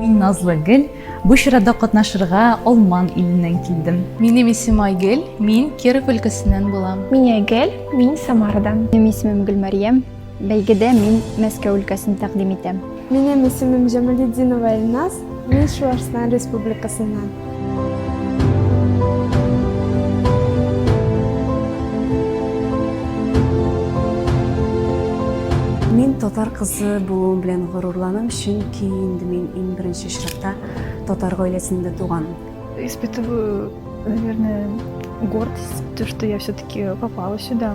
Мин Назлы Гел, бу чарада катнашырга Алман иленнән килдем. Минем исем Айгел, мин Киров өлкәсеннән булам. Мин Айгел, мин Самарадан. Минем исемем Гөлмәрьям, бәйгедә мин Мәскәү өлкәсен тәкъдим итәм. Минем исемем Җамалетдинова Эльназ, Мин Чуашстан Республикасыннан. Мин татар кызы булуым белән горурланам, чөнки инде мин иң беренче чиратта татар гаиләсендә туган. Испытываю, наверное, гордость, то, что я все-таки попала сюда.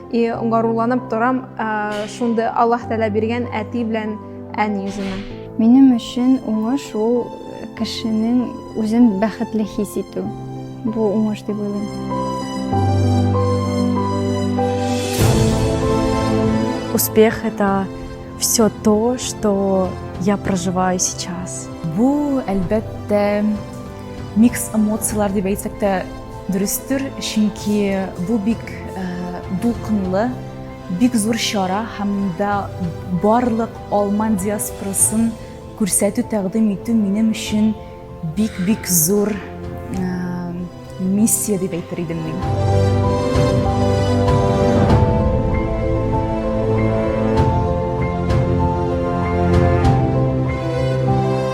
И горурланып торам шундый Аллаһ Тәгалә биргән әти белән әни үземә. Минем өчен уңыш ул кешенең үзен бәхетле хис итү. Бу уңыш дип уйлыйм. Успех это все то, что я проживаю сейчас. Бу, әлбәттә, микс эмоцияләр дип әйтсәк тә Дөрестер, чөнки бу бик дулкынлы, бик зур чара һәм монда барлык алман диаспорасын күрсәтү, тәкъдим итү минем өчен бик-бик зур миссия дип әйтер идем мин.